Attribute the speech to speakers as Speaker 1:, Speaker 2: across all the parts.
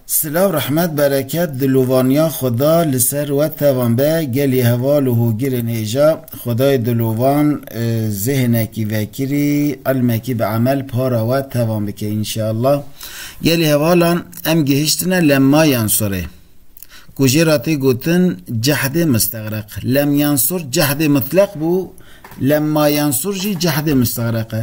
Speaker 1: Silav rehmet bereket di lovaniya xwe da li ser we tevan be gelî heval û hogirên hêja xwedayê di lovan zêhnekî vekirî ilmekî bi emel para we tevan bike înşeallah gelî hevalan em gihiştine lemma yan sorê ku jê ra tê gotin cehdê mistereq lem yan sor cehdê mitleq bû lemma yan sor jî cehdê mistereq e.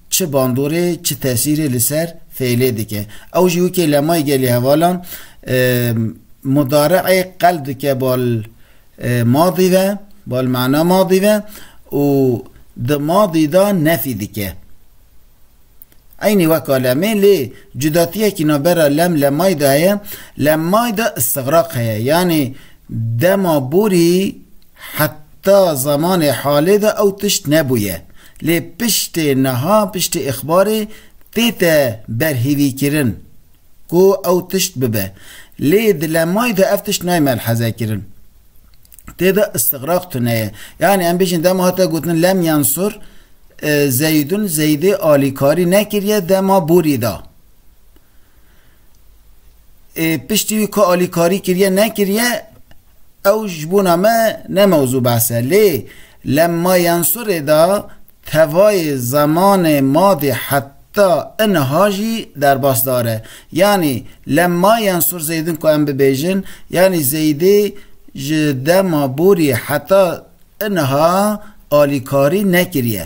Speaker 1: çi bandorê çi tesîrê li ser fêlê dike. Ew jî wekî lemayî gelê hevalan mudare'ê qel dike bal madî ve, bal mana madî ve û di madî de nefî dike. Eynî weka lemê lê cudatiyekî navbera lem lemayî de heye, lemayî de îstigraq heye yanî dema borî Heta zemanê halê de ew tişt nebûye. Lê piştê niha, piştî îxbarê tête berhîvîkirin ku ew tişt bibe. Lê di lemayî de ev tişt nayê melhezekirin. Tê de îstigraq tune ye. Yanî em bêjin dema hate gotin Lem Yensur Zeydun Zeydê alîkarî nekiriye dema bûrî da. piştî wî ku alîkarî kiriye nekiriye ew ji bona me ne mewzû behse lê lema yensurê da tevayê zemanê madê heta iniha jî derbasdar e yanî lema yensur zeydin ku em bibêjin yanî zeydê ji dema borî heta iniha alîkarî nekiriye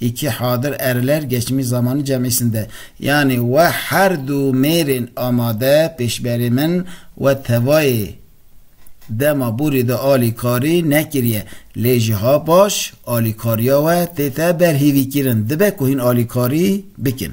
Speaker 1: Îkî hadir Eriler geçimî zamanî cemîsn de yanî we her du mêrên amade pêşberê min we tevayê dema borî de alîkarî nekirîye lê ji ha paş alîkarîya we tête berhîvîkîrin dibe ku hîn alîkarî bikin.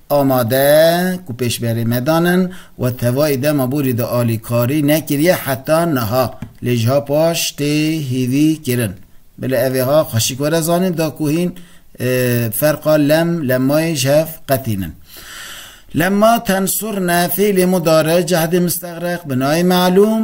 Speaker 1: Amade ku pêşberê me dan in we tevayî dema borî de alîkarî nekiriye heta niha lê ji ha paş tê hîvî kirin. Bila ev ê ha xweşik were zanîn da ku hîn ferqa lem lemayê ji hev qetîn in. Lemma tensurne fîlê mudare cehdê mistexreq binayê me'lûm.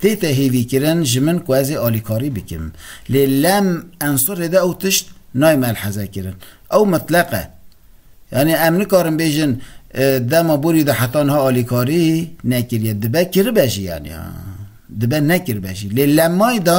Speaker 1: Tê tehêvîkirin ji min ku ez ê alîkarî bikim. Lê lem ensurê de ew tişt nayê melhezekirin. Ew mitleq e. Yanî em nikarin bêjin dema borî de heta niha alîkarî nekiriye. Dibe kiribe jî yanî. Dibe nekiribe jî. Lê lemayî de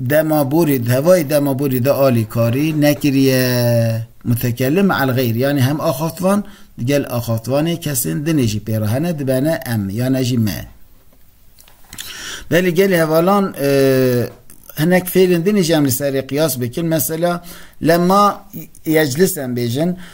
Speaker 1: Dema borî di hevayî dema borî de alîkarî nekiriye. Mutekellim me el xeyr yanî hem axaftvan di gel axaftvanê kesên dinê jî pê re hene dibene em yan e jî me. Belê gelê hevalan hinek fêlên dinê jî em li serê qiyas bikin. Mesela lema yeclisen bêjin